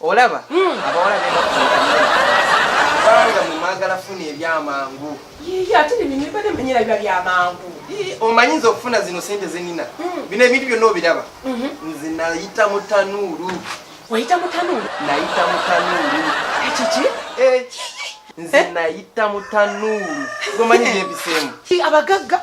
olaba hmm. abawala bebanga mumwagala funa ebyamangu ate nebade manyira biba byamangu omanyi nze okufuna zino sente zenina hmm. bino ebintu byonna obiraba mhm. nze nayita mutanuulu wayita mutanuulu nayita mutanuulu ekiki eh. nze eh? nayita mutanuulu gomanyi byebiseemu abagagga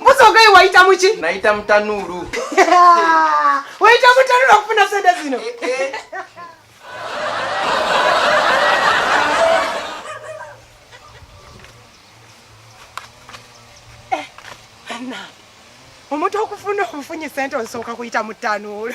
Mbuzi ogaye wayita muki? Nayita mutanuulu. Wayita mutanuulu okufuna sente zino. Eh, eh. Eh, omuntu okufuna obufunyi sente osooka kuyita mu tanuulu